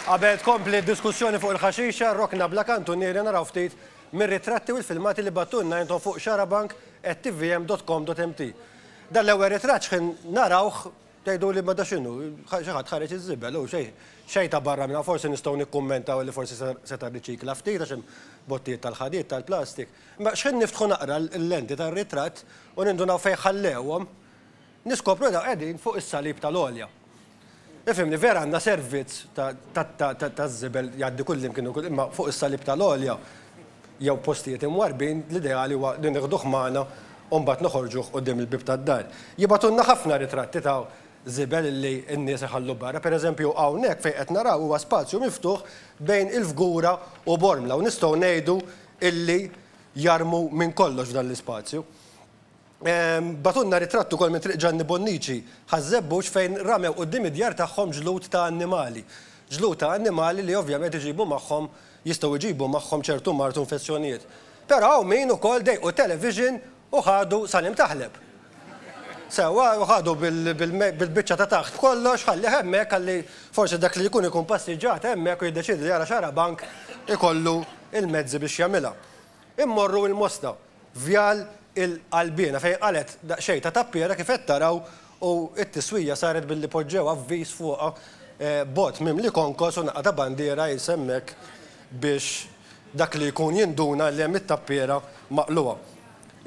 Qabel tkompli d-diskussjoni fuq il-ħaxixa, rokna bla kantunieri naraw ftit mir-ritratti u l-filmati li bagħtulna intom fuq xarabank@tvm.com.mt. Dan l-ewwel ritratt xħin narawh tgħiduli ma da x'inhu, xi ħadd ħareġ iż-żibel, hu xejn xejn ta' barra minn hawn, forsi nistgħu nikkummentaw li forsi seta' rriċikla ftit għax hemm bottijiet tal-ħadid, tal-plastik. Imma xħin niftħu naqra l-lenti tar-ritratt u nindunaw fejn ħallewhom, Niskopru li dawn qegħdin fuq is-salib tal-għolja. Ifhimni, vera għandna servizz taż-żibel jgħaddi kullimkien u kull imma fuq is-salib tal-għolja jew postijiet imwarrbin l-ideali huwa li nieħduh magħna u mbagħad noħorġuh quddiem il-bieb tad-dar. Jibgħatulna ħafna ritratti ta' żibel li n-nies iħallu barra. Pereżempju hawnhekk fejn qed naraw huwa spazju miftuħ bejn il-Fgura u Bormla u nistgħu ngħidu illi jarmu minn kollox f'dan l-ispazju. Bagħtulna ritratt ukoll minn Triq Ġanni Bonniċi, Ħaż-Żebbuġ, fejn ramew quddiem id-djar tagħhom ġlud ta' annimali. Ġlud ta' annimali li ovvjament iġibu magħhom, jistgħu jġibu magħhom ċertu mard u infezzjonijiet. Però hawn min ukoll dejqu t-television u ħadu Salim Taħleb. Sewwa, u ħadu bil-biċċa ta' taħt b'kollox, ħallih hemmhekk ħalli forsi dak li jkun ikun passiġġat hemmhekk u jiddeċiedi li jara xarabank ikollu l-mezzi biex jagħmilha. Immorru il-Mosta. Vjal il-Qalbiena fejn qalgħet daqsxejn ta' tappiera kif qed taraw u t-tiswija saret billi poġġew avviż fuqha b'għodd mimli konkos u naqqa ta' bandiera qis hemmhekk biex dak li jkun jinduna li hemm it-tappiera maqlugħa.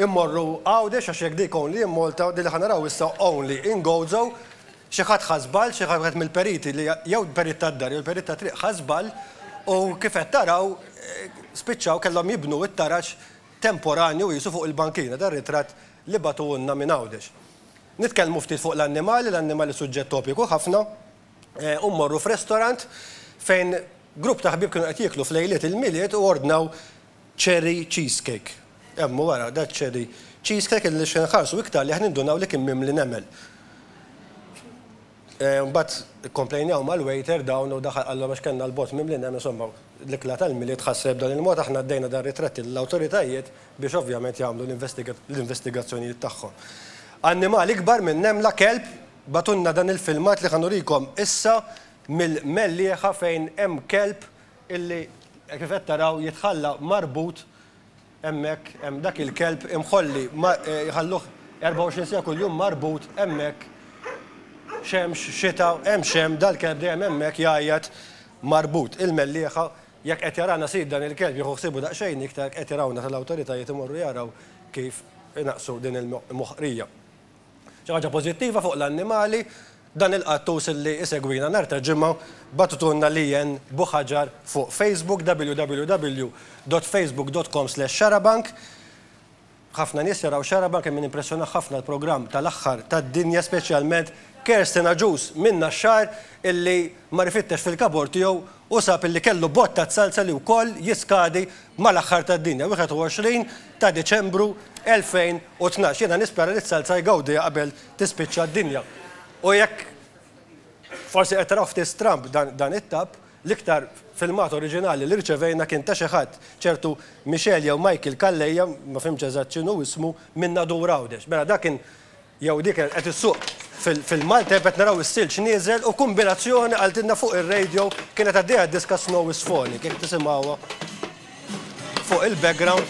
Immorru Għawdex għax jekk dik only in Malta, din li ħa naraw issa only in Gozo. Xi ħadd ħa żball, xi ħadd wieħed mill-periti li jew l-perit tad-dar jew l-perit tat-triq ħa żball u kif qed taraw spiċċaw kellhom jibnu t-taraġ temporanju qisu fuq il-bankina tar-ritratt li bagħtuhulna minn Għawdex. Nitkellmu ftit fuq l-annimali, l-annimali suġġett topiku ħafna u mmorru f'restorant fejn grupp ta' ħbieb kienu qed jieklu f'lejliet il-Milied u ordnaw Cherry cheesecake. Hemm u ara, da cherry cheesecake illi xi nħarsu iktar lejh nindunaw li kien mimli nemel. Mbagħad ikkomplejnew mal-waiter dawn u daħal qalhom għax kellna l-bott mimli nemel, insomma l-ikla tal-Milied tħassret b'dan il-mod, aħna għaddejna dan ritratt lill-awtoritajiet biex ovvjament jagħmlu l-investigazzjonijiet tagħhom. Annimal ikbar minn nemla, kelb, bagħtulna dan il-filmat li ħa nurikom issa mill-mellieħa fejn hemm kelb illi kif qed taraw jitħalla marbut hemmhekk hemm dak il-kelb imħolli jħalluh 24 siegħa kuljum marbut hemmhekk xemx, xita, hemm x'hemm dal-kelb dejjem hemmhekk jgħajjat marbut. Il-Mellieħa jekk qed jarana sid dan il-kelb jieħu ħsiebu daqsxejn iktar jekk qed jarawna tal-awtoritajiet imorru jaraw kif inaqqsu din il-moħqrija. Xi ħaġa pożittiva fuq l-annimali Dan il-qattus li isegwina nhar ta' Ġimgħa bagħtutulna Lianne Buhaġar fuq Facebook, www.facebook.com/xarabank. Ħafna nies jaraw Xarabank imma nimpressjonah ħafna l-programm tal-aħħar tad-dinja speċjalment Kerstin Agius minn Naxxar illi mar ifittex fil-kabord tiegħu u sab illi kellu bott taz-salsa li wkoll jiskadi mal-aħħar tad-dinja, 21 ta' Diċembru 2012. Jiena nispera li t-salsa jgawdiha qabel tispiċċa d-dinja. U jekk forsi qed taraw ftit stramb dan it-tab, l-iktar filmat oriġinali li rċevejna kien ta' xi ħadd, ċertu Michel jew Michael Calleja, ma fhimtx eżatt x'inhu ismu, minn Nadur Għawdex. Mela dak kien jew dik kienet qed issuq fil-malteb qed naraw is-silġ nieżel u kumbinazzjoni qaltilna fuq ir-radio kienet għaddejja d-diska Snow is Falling, jekk tisimgħuha. Fuq il-background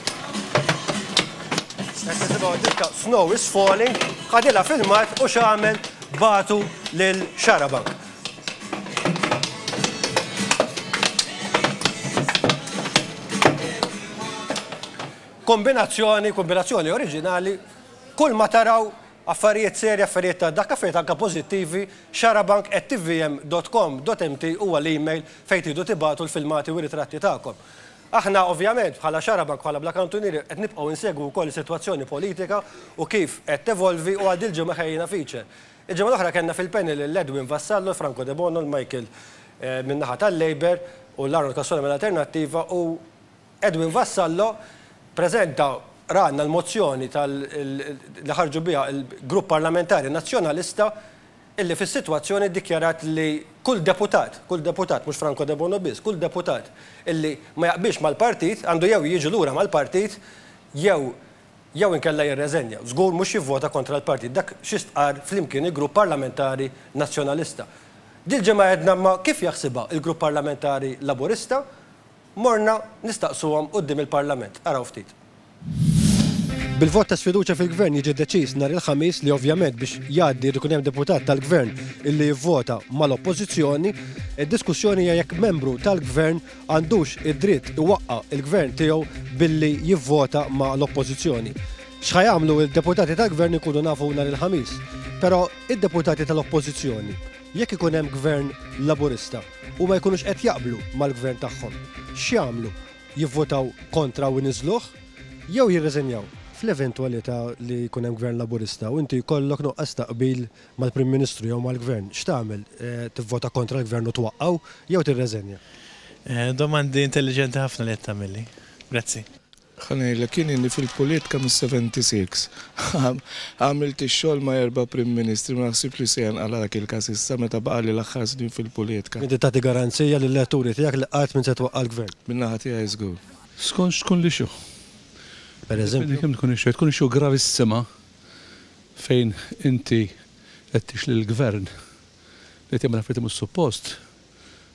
qed tisimgħu diska Snow is Falling, ħadilha filmat u x'għamel batu lil Xarabank. Kombinazzjoni, kombinazzjoni oriġinali, kull ma taraw affarijiet serji, affarijiet ta' dak, affarijiet anke pożittivi, xarabank@tvm.com.mt huwa l-email fejn tridu tibagħtu l-filmati u r-ritratti tagħkom. Aħna, ovvjament, bħala Xarabank, bħala Black Kantunieri, qed nibqgħu insegwu wkoll is-sitwazzjoni politika u kif qed tevolvi u għal dil-ġimgħa ħejjejna feature. Il-ġimgħa l-oħra kellna fil-panel lil Edwin Vassallo, Franco Debono, lil Michael min-naħa tal-Labour u lil Arnold Cassola mill-Alternattiva u Edwin Vassallo ppreżenta rana l-mozzjoni tal li ħarġu biha l-Grupp Parlamentari Nazzjonalista illi fis-sitwazzjoni ddikjarat li kull deputat, kull deputat, mhux Franco Debono biss, kull deputat illi ma jaqbilx mal-partit għandu jew jiġi lura mal-partit jew jew inkella jirreżenja. Żgur mhux jivvota kontra l-partit. Dak xi stqarr flimkien il-Grupp Parlamentari Nazzjonalista. Dil-ġimgħa għedna imma kif jaħsibha l-Grupp Parlamentari Laburista Morna nistaqsuhom quddiem il-Parlament. Araw ftit. Bil-vot ta' sfiduċja fil-Gvern jiġi deċiż nhar il-Ħamis li ovvjament biex jgħaddi jrid ikun hemm deputat tal-Gvern illi jivvota mal-Oppożizzjoni. Id-diskussjoni hija jekk membru tal-Gvern għandux id-dritt iwaqqa' il-Gvern tiegħu billi jivvota ma' l-Oppożizzjoni. X'ħa jagħmlu d-deputati tal-Gvern inkunu nafu nhar il-Ħamis. Però id-deputati tal-Oppożizzjoni? Jekk ikun hemm Gvern Laburista u ma jkunux qed jaqblu mal-Gvern tagħhom, x'jagħmlu? Jivvotaw kontra u jniżżluh? Jew jirriżinjaw? Fl-eventwalità li jkun hemm Gvern Laburista u inti jkollok nuqqas ta' qbil mal-Prim Ministru jew mal-Gvern, x'tagħmel? Tivvota kontra l-Gvern u twaqqgħu jew tirreżenja? Domandi intelliġenti ħafna li qed tagħmilli. Grazzi. Ħa ngħidlek jien ilni fil-pulitka mis-76. Għamilt ix-xogħol ma' erba' Prim Ministri, ma naħsibx li se jenqala' dak il-każ issa meta baqgħali l-aħħar snin fil-pulitka. Inti tagħti garanzija lill-elettori tiegħek li qatt m'int se twaqqa' l-Gvern? Min-naħa tiegħi żgur. Skont x'tkun l-issue. Jiddependi kemm tkun issue. Jekk tkun issue gravissima fejn inti qed tixli l-Gvern li tagħmel affarijiet li mhux suppost,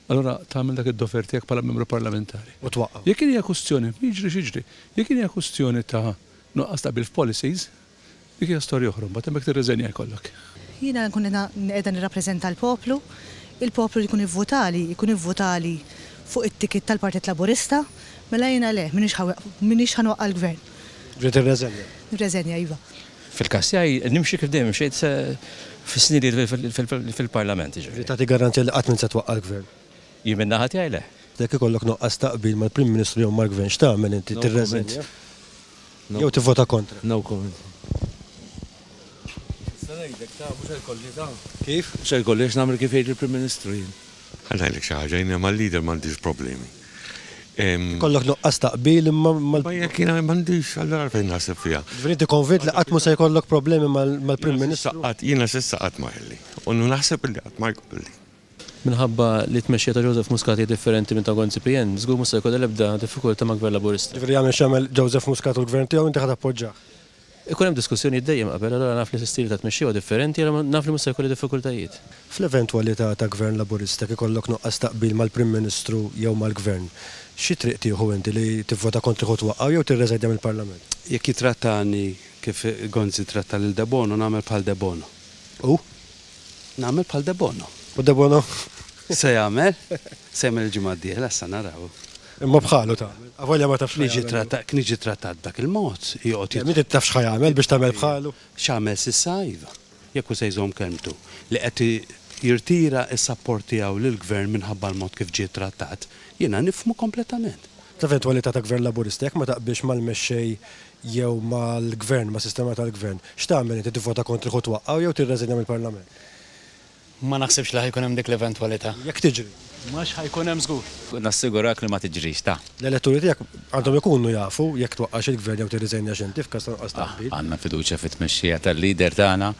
allura tagħmel dak id-dover tiegħek bħala Membru Parlamentari. U twaqqgħu. Jekk hija kwistjoni, jiġri x'jiġri. Jekk hija kwistjoni ta' nuqqas ta' qbil f'policies, dik hija storja oħra, mbagħad hemmhekk tirriżenja jkollok. Jiena nkun qiegħda nirrappreżenta l-poplu, il-poplu li jkun ivvutali, jkun ivvutali fuq it-ticket tal-Partit Laburista, mela jiena le, m'iniex ħa nwaqqa' l-Gvern. Ġej tirreżenja. Nirreżenja, iva. Fil-każ tiegħi nimxi kif dejjem mxejt fis-snin li ilt fil-Parlament, jiġifieri. Tagħti garanzija li qatt m'int se twaqqa' l-Gvern? Jien min-naħa tiegħi le. Jekk ikollok nuqqas ta' qbil mal-Prim Ministru jew mal-Gvern x'tagħmel inti? Tirreżint? Jew tivvota kontra? No comment. Nista' ngħidlek ta' mhux se jkolli ta'. Kif? Mhux se jkolli għax nagħmel kif jgħid il-Prim Ministru jien. Ħa ngħidlek xi ħaġa, jien ma' leader m'għandix problemi. Ikollok nuqqas ta' qbil imma mal- Ma jekk jiena m'għandix, allura għalfejn naħseb fiha. Ġifieri inti konvint li qatt mhu se jkollok problemi mal-Prim Ministru? Jiena s'issa qatt ma kelli, u naħseb li qatt ma jkolli. Minħabba li t-tmexxija ta' Joseph Muscat hija differenti minn ta' Gonzi PN, żgur mhux se jkollha l-ebda diffikultà mal-Gvern Laburista. Ġifieri jagħmel x'jagħmel Joseph Muscat u l-Gvern tiegħu inti ħa tappoġġah? Ikun hemm diskussjonijiet dejjem qabel, allura naf li stili ta' tmexxija huwa differenti, allura naf li mhux se jkolli diffikultajiet. Fl-eventwalità ta' Gvern Laburista jekk ikollok nuqqas ta' qbil mal-Prim Ministru jew mal-Gvern, xi triq tieħu inti, li tivvota kontrih u twaqqgħu jew tirreżajdja mill-Parlament? Jekk jittrattani kif Gonzi ttratta lil Debono, nagħmel bħal Debono. U? Nagħmel bħal Debono. U Debono? Se jagħmel? Se jagħmel il-ġimgħa d-dieħla sa naraw. Imma bħalu ta'. Avolja ma tafx. Niġi trattat, niġi trattat dak il-mod, joqgħod jitħadd. Inti tafx ħa jagħmel biex tagħmel bħalu? X'għamel s'issa iva. Jekk hu se jżomm kelmtu. Li qed jirtira s-sapport tiegħu lill-Gvern minħabba l-mod kif ġie trattat, jiena nifhmu kompletament. Fl-eventwalità ta' Gvern Laburista, jekk ma taqbilx mal-mexxej jew mal-Gvern, mas-sistema tal-Gvern, x'tagħmel inti, tivvota kontrih u twaqqgħu jew tirreżinja mill-Parlament? Ma naħsibx li ħa jkun hemm dik l-eventwalità. Jekk tiġri. Ma x'ħa jkun hemm żgur. Nassigurak li ma tiġrix, ta. L-elettori tiegħek għandhom ikunu jafu jekk twaqqax il-Gvern jew tirriżenjax inti f'każ ta' nuqqas ta' qbil. Għandna fiduċja fit-tmexxija tal-leader tagħna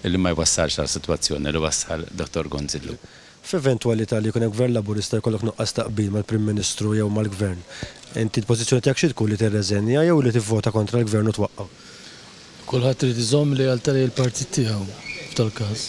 li ma jwassalx għal sitwazzjoni li wassal Dottor Gonzillu. F'eventwalità li jkun hemm Gvern Laburista jkollok nuqqas ta' qbil mal-Prim Ministru jew mal-Gvern, inti l-pożizzjoni tiegħek xi tkun li tirreżenja jew li tivvota kontra l-Gvern u twaqqa'? Kulħadd irid iżomm lealtà lejn il-partit tiegħu f'tal-każ.